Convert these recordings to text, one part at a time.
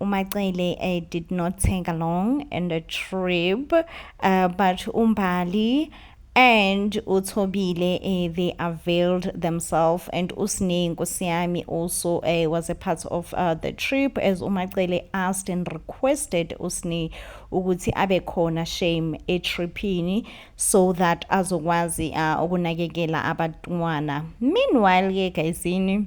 uMacele uh, did not take along in the trip uh, but uMbali and uThobile eh, they availed themselves and uSne Nkosiyami also eh, was a part of uh, the trip as uMacele asked and requested uSne ukuthi abe khona shame etripini so that azokwazi uh, ukunakekela abantwana meanwhile ke guysini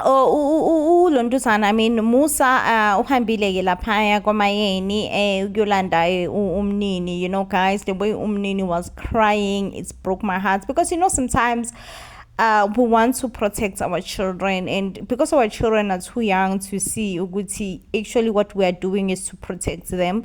Oh ulontuzana I mean Musa uh, uhambile ke laphaya kwamayeni eh ukuyolanda eh, umnini you know guys the way umnini was crying it's broke my heart because you know sometimes uh, we want to protect our children and because our children are too young to see ukuthi actually what we are doing is to protect them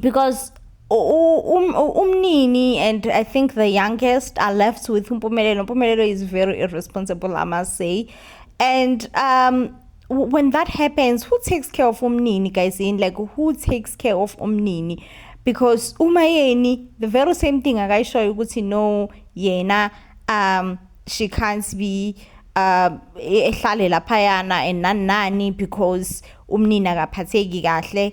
because um, umnini and i think the youngest are left with umpumelelo umpumelelo is very irresponsible i must say and um when that happens who takes care of umnini guys in like who takes care of umnini because uma yeni the very same thing akayishoyo ukuthi no yena um she can't be uh ehlale laphayana and nani nani because umnini akaphatheki kahle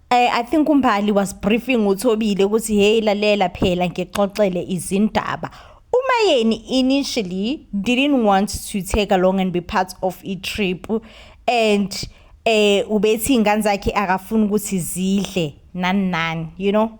Eh, I think umbali was briefing uThobile ukuthi hey lalela phela ngixoxele izindaba. Umayeni initially didn't want to take along and be part of a trip and eh ubethi ingane zakhe akafuni ukuthi zidle nani nani you know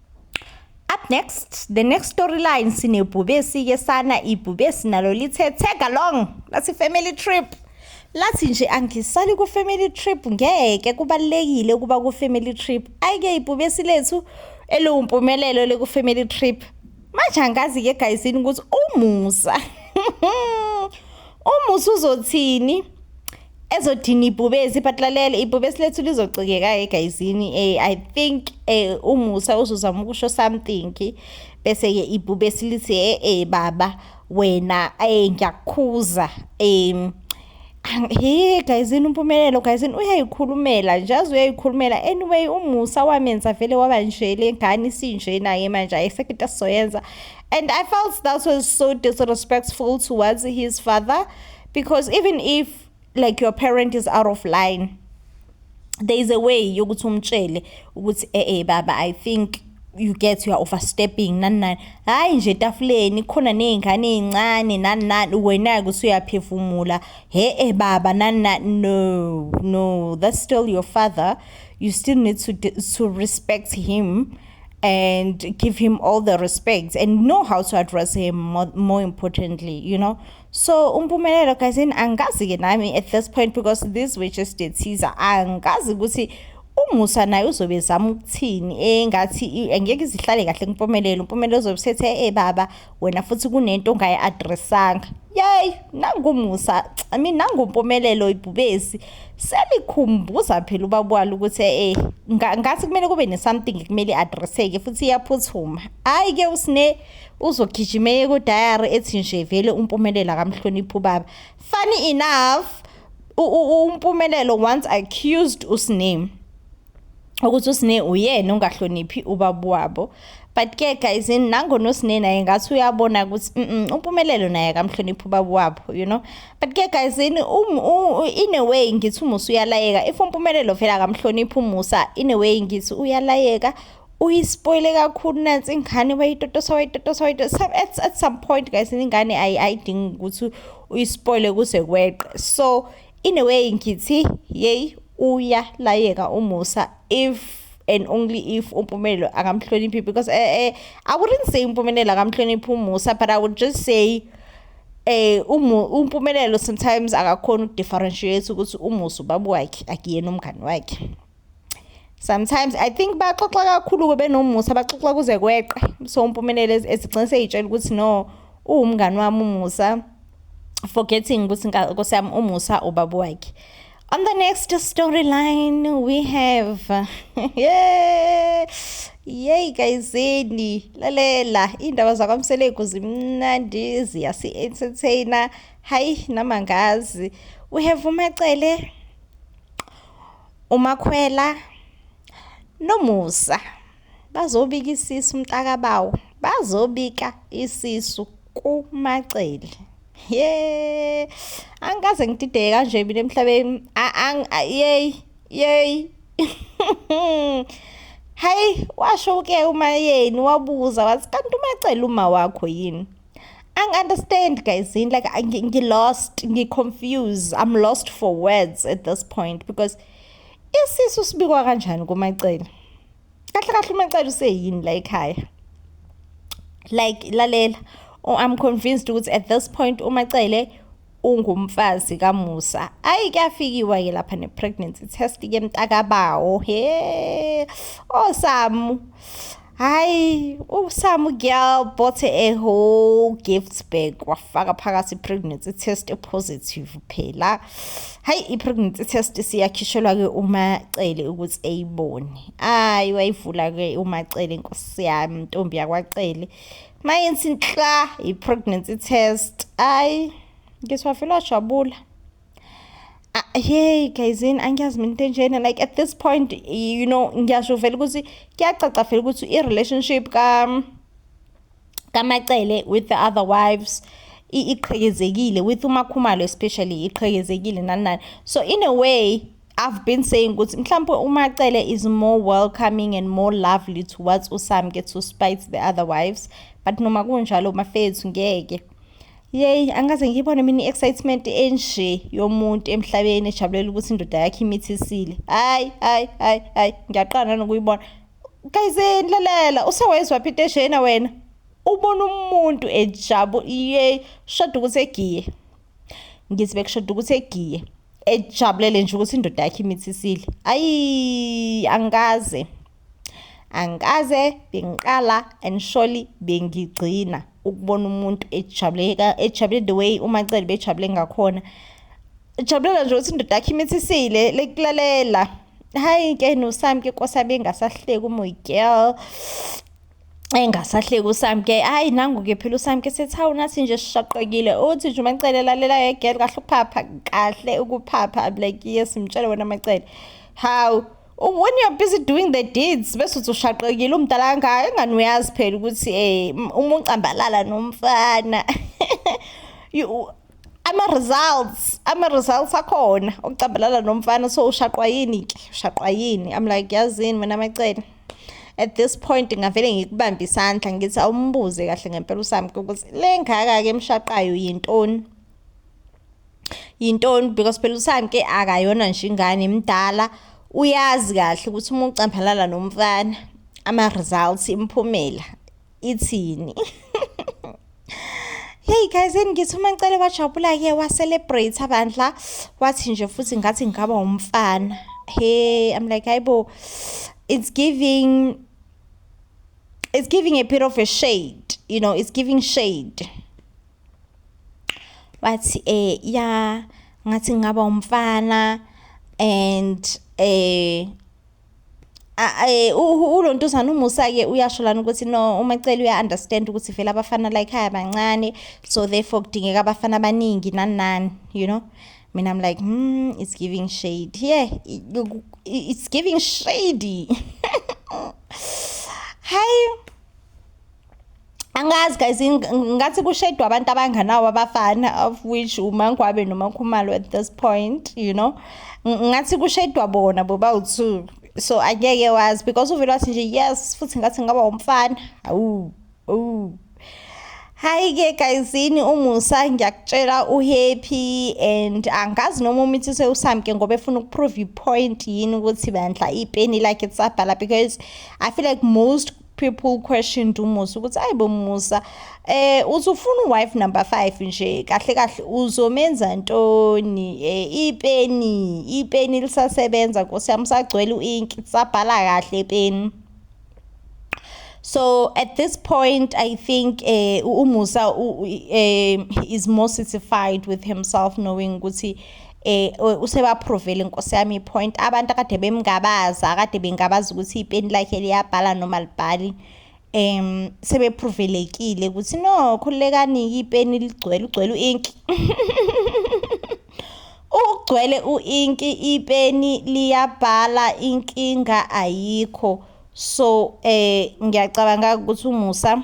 Up next, the next storyline sinebhubesi ke sana ibhubesi nalo lithe tag along lasi family trip. Lathi nje angisali ku family trip ngeke kubalekile ukuba ku family trip. Ayike ibhubesi lethu eliwumpumelelo leku family trip. Manje angazi ke guys ukuthi umusa. Uma usuzothini ezodina ibhubesi but lalela ibhubesi lethu lizocikeka egayizini eh, i think eh, umusa uzozama ukusho something bese-ke ibhubesi lithi e eh, eh, baba wena eh, ngiyakukhuza um he gayizini umpumelelo gayizini uyayikhulumela nje aze uyayikhulumela anyway umusa wamenza vele waba nje le ngane isinje naye manje ayisekho into asizoyenza And I felt that was so disrespectful towards his father because even if like your parent is out of line there is a way yokuthi umtshele ukuthi eh eh baba i think you get you are overstepping nani nani hayi nje etafuleni khona nezingane ezincane nani nani wena ke usuyaphefumula he eh baba nani nani no no that's still your father you still need to to respect him and give him all the respect and know how to address him more, more importantly you know so umpumelelo guys and angazi ke nami at this point because this we just did teaser angazi ukuthi umusa naye uzobe zama ukuthini engathi angeke izihlale kahle kumpumelelo umpumelelo uzobe sethe eh baba wena futhi kunento ongayi-adressanga yeyi nangumusa i mean nangumpumelelo ibhubesi selikhumbuza phela ubaba walo ukuthi eh ngathi kumele kube ne-something kumele i-adresseke futhi iyaphuthuma hhayi-ke usine uzogijimeye kudayari ethi nje vele umpumelela kamhloniphi ubaba funny enough umpumelelo once accused usiname ukuthi usine uyena ongahloniphi ubaba wabo but ke guys nangona usine naye ngathi uyabona ukuthi umpumelelo naye akamhloniphi ubaba wabo you know but ke guys in um, in a way ngithi umusa uyalayeka if umpumelelo vele akamhloniphi umusa in a way ngithi uyalayeka uyispoile kakhulu nansi ingane wayitotosa wayitotosa wayitotosa at, at some point guys ingane ayidingi ukuthi uyispoile kuze kweqe so in a way ngithi yeyi uyalayeka umusa if and only if umpumelelo akamhloniphi because uh, uh, i wouldn't say umpumelelo akamhloniphi umusa but i would just say eh umpumelelo sometimes akakhona ukudifferentiate ukuthi umusa ubaba wakhe akuyena umngani wakhe sometimes i think baxoxa kakhulu-ke benomusa baxoxa kuze kweqe so umpumelelo ezigcine seyitshela ukuthi no uwumngani wami umusa forgetting ukuthi nkosi yami umusa ubaba wakhe On the next storyline, we have yeah, yay kayizeni lalela iy'ndaba zakwamseleku zimnandi ziyasi-entertaina hayi namangazi we have umacele umakhwela nomusa bazobika isisu umntakabawo bazobika isisu kumacele ye angikaze ngidideke kanje mina emhlabeni yey yey hayi washo ke uma yeni wabuza wathi kanti umacele uma wakho yini angi-understand guys yini like ngi-lost ngi-confuse i'm lost for words at this point because isisu sibikwa kanjani kumacele kahle kahle umacele useyini la ekhaya like lalela oh, i'm convinced ukuthi at this point umacele ungumfazi kamusa ayi kuyafikiwa ke lapha ne-pregnancy test ke mntakabawo he osamu oh, hayi usamu girl bought a whole gift bag wafaka phakathi i-pregnancy test epositive phela hayi i-pregnancy test siyakhishelwa ke umacele ukuthi eyibone hayi wayivula ke umacele inkosi yami ntombi yakwacele maye nsinhla i-pregnancy test ayi ngiswafela wajabula hey gayizini angiyazi mina into enjena like at this point you know ngiyasho vele ukuthi kuyacaca vele ukuthi i-relationship ka kamacele with the other wives iqhekezekile with umakhumalo especially iqhekezekile nani nani so in a way I've been saying ukuthi mhlawumbe uMacele is more welcoming and more lovely towards uSamke to spite the other wives but noma kunjalo mafethu ngeke yeyi angikaze ngiyibone mina i-excitement enje yomuntu emhlabeni ejabulela ukuthi indoda yakhe imithisile hayi hayi hayi hayi ngiyaqala nokuyibona kayizeni lalela usewayizwa phi into eshena wena ubona umuntu ejabu yeyi shada ukuthi egiye ngithi bekushoda ukuthi egiye ejabulele nje ukuthi indoda yakhe imithisile ayi angikaze angikaze bengiqala and surely bengigcina ukubona umuntu ejabuleka ejabule the way umacele bejabule ngakhona jabulela nje ukuthi indoda yakhe imithisile lekulalela hayi ke nosami ke kosabe engasahleki umoy girl engasahleki usamke hayi nangu-ke phela usamke sethi hawu nathi nje sishaqekile uthi nje umacele lalela yegel kahle ukuphapha kahle ukuphapha i'm like yes mtshele wena macele hawu when you're busy doing the deeds bese uthi ushaqekile umdala kangaka engani uyazi phela ukuthi um uma ucambalala nomfana ama-results ama-results akhona okucambalala nomfana so ushaqwa yini ke ushaqwa yini i'm like yazini mina macele at this point ngavele ngikubambe isandla ngithi awumbuze kahle ngempela usami ukuthi le ngaka-ke emshaqayo yintoni yintoni because phela usami ke akayona nje ingane mdala uyazi kahle ukuthi uma ucambalala nomfana ama-results imphumela ithini Hey guys engithi uma ngicela bajabula ke wa celebrate abandla wathi nje futhi ngathi ngaba umfana hey i'm like hayibo it's giving it's giving a bit of a shade you know it's giving shade wathi eh ya ngathi ngaba umfana and eh Eh, ulo ntuzana umusa-ke uyasho lana ukuthi no umacele uya-understand ukuthi vele abafana la ekhaya bancane so therefore kudingeka abafana abaningi nani nani you know mina i'm like hmm it's giving shade yeah it's giving shady hayi angazi guys ngathi kushedwa abantu abanganawo abafana of which umangwabe nomakhumalo at this point you know ngathi kushedwa bona bobawu-two so angeke wazi because uvele wathi nje yes futhi ngathi ngaba umfana awu awu Hayi-ke gayizini umusa ngiyakutshela uhappy and angazi noma umithi sewusamke ngoba efuna ukuprove ipoint yini ukuthi bandla ipeni lakhe lisabhala because I feel like most people question to Musa ukuthi ayibo Musa eh uthi ufuna wife number 5 nje kahle kahle uzomenza ntoni eh ipeni ipeni lisasebenza Nkosi yami sagcwele uink sabhala kahle ipeni So at this point, I think uh, Umusa uh, is more satisfied with himself knowing Guti eh usebaphrovele inkosi yami point abantu akade bemngabaza akade bengabaza ukuthi ipeni lakhe liyabhala noma libhali em sebepruvelekile ukuthi no khulekani ipeni ligcwele ugcwele uink ugcwele uink ipeni liyabhala inkinga ayikho so eh ngiyacabanga ukuthi umusa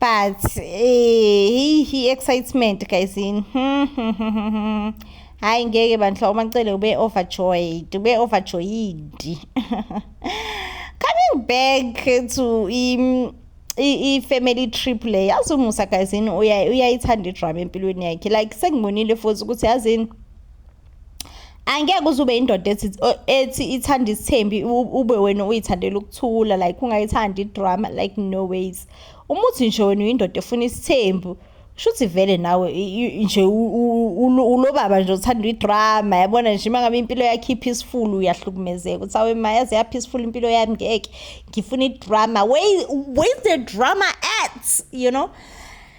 but eh hi excitement guys in hayi ngeke bandla umacele ube overjoyed ube overjoyed coming back to im i-family trip le yazi umusa guyzini uyayithanda idrama empilweni yakhe like sengibonile futhi ukuthi yazini angeke uze ube indoda ethi ethi ithanda isithembi ube wena uyithandela ukuthula like ungayithandi idrama like no ways uma uthi nje wena uyindoda efuna isithembu shuthi vele nawe nje ulobaba nje uthanda idrama yabona nje uma ngabe impilo yakhe i-peaceful uyahlukumezeka uthi awe ma yaze ya-peaceful impilo yami ngeke ngifuna idrama where, where is the drama at you know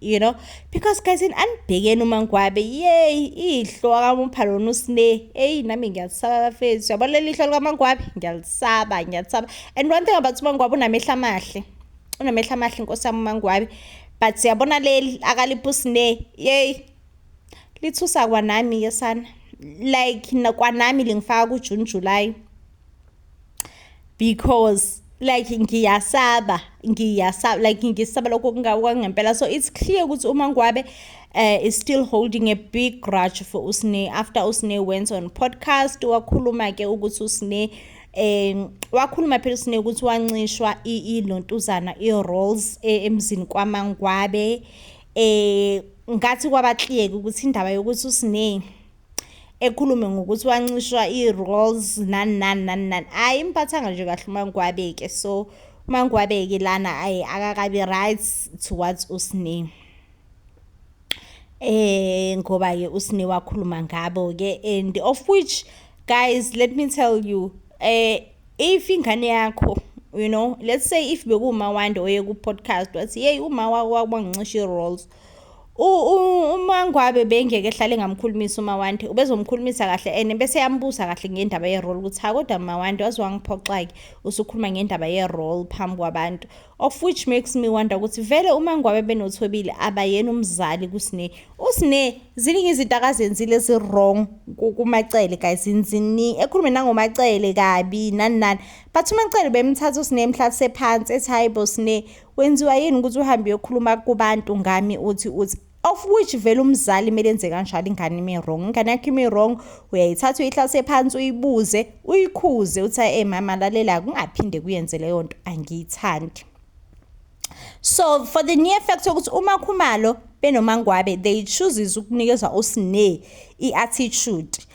you know because guys in anibhekeni umangwabe yeyi ihlo akamupha lona usine eyi nami ngiyalisaba bafethu yabona leli ihlo likamangwabe ngiyalisaba ngiyalisaba and one thing about umangwabe unamehla amahle unamehla amahle inkosi yami umangwabe but siyabona leli akalipha usine yeyi lithusa kwanami yesana like kwanami lingifaka kujune july because like ngiyasaba ngiyasaba like ngisaba lokho kungawangempela so it's clear ukuthi uma ngwabe uh, is still holding a big grudge for usne after usne went on podcast wakhuluma ke ukuthi usne um wakhuluma phela usne ukuthi wancishwa ilontuzana i-rolls eh, emzini kwamangwabe um ngathi kwabakliyeke ukuthi indaba yokuthi usne ekhulume ngokuthi wancishwa i-rolls nani nani nani nani hhayi imphathanga nje kahle umangwabe-ke so umangwabe-ke lana ayi akakabi right towards usne eh ngoba-ke usne wakhuluma ngabo-ke and of which guys let me tell you eh if ingane yakho you know let's say if bekuwumawande oye ku-podcast wathi yeyi uma wakho wakubangincisha i-rolls uma ngwabe bengeke ehlale ngamkhulumisa umawande ubezomkhulumisa kahle and bese yambuza kahle ngendaba ye-role ukuthi ha kodwa mawande waze wangiphoxa-ke usukhuluma ngendaba ye-role phambi kwabantu of which makes me wonder ukuthi vele uma ngwabe benothobile abayena umzali kusine usine ziningi izinto akazenzile ezi-wrong kumacele guys nzini ekhulume nangomacele kabi nani nani but umacele bemthatha usine emhlalise phansi ethi hayi bo sine Wenziwa yini ukuthi uhambe uyokhuluma kubantu ngami uthi uthi of which vele umzali kumele enze kanjalo ingane ime wrong ingane yakho ime wrong uyayithatha uyihlase phansi uyibuze uyikhuze uthi e mama lalela kungaphinde kuyenze leyo nto angiyithandi so for the near fact ukuthi uma khumalo benomangwabe they chooses ukunikeza usine i-attitude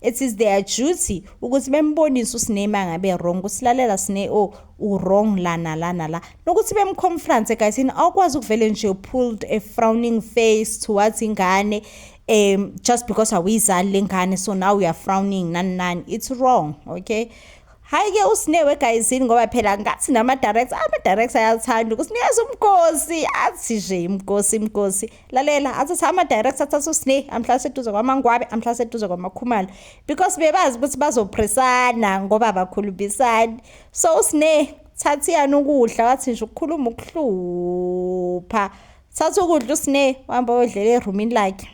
It is their duty ukuthi bembonise uSne mangabe wrong kusilalela Sne o oh, u-wrong lana lana la nokuthi bemconference guys yini awukwazi ukuvele nje pulled a frowning face towards ingane um just because awuyizali lengane so now we are frowning nani nani it's wrong okay hayi-ke usinewe egayizini ngoba phela ngathi nama-director ama-director ayathanda ukusinikeza umgosi athi nje imgosi imgosi lalela athi sa ama-director athatha usne amhlala seduze kwamangwabe amhlala seduze kwamakhumalo because bebazi ukuthi bazophresana ngoba abakhulumisani so usne thatha iyani ukudla wathi nje ukukhuluma ukuhlupha thatha ukudla usne wahamba oyodlela erumini lakhe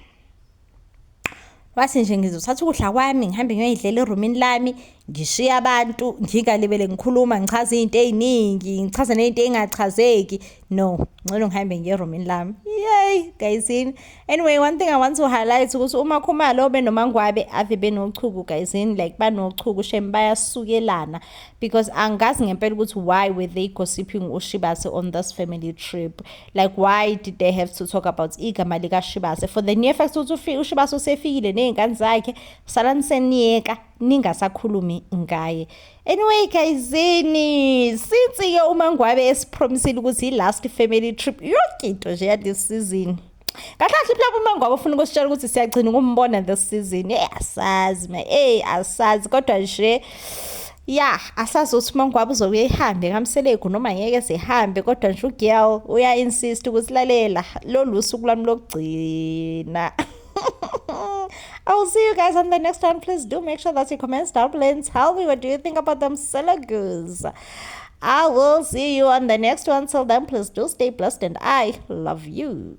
wathi nje ngizothatha ukudla kwami ngihambe ngiyoyidlela erumini lami ngishiye abantu ngingalibele ngikhuluma ngichaze izinto eziningi ngichaze nezinto engachazeki no ngcono ngihambe ngiye erumini lami yay gayizini anyway one thing i want to highlight ukuthi uma khumalo benomangwabe ave benochuku gayizini like banochuku shem bayasukelana because angazi ngempela ukuthi why were they gossiping ushibase on this family trip like why did they have to talk about igama likashibase for the near fact ukuthi ushibase usefikile ney'ngane zakhe salani seniyeka ningasakhulumi ngaye anyway gayizini since-ke uma ngwabe esipromisile ukuthi i-last family trip yonke into nje yalesi sizini kahle kahle mhlawumbe uma ngoba ufuna ukusitshela ukuthi siyagcina ukumbona this season eyi asazi ma eyi asazi kodwa nje ya asazi ukuthi uma ngwabe uzokuye ihambe kamselegu noma ngeke zihambe kodwa nje ugirl uya-insist ukuthi lalela lolu suku lwami lokugcina I will see you guys on the next one. Please do make sure that you comment down below and tell me what do you think about them Selagus. I will see you on the next one. Till then, please do stay blessed and I love you.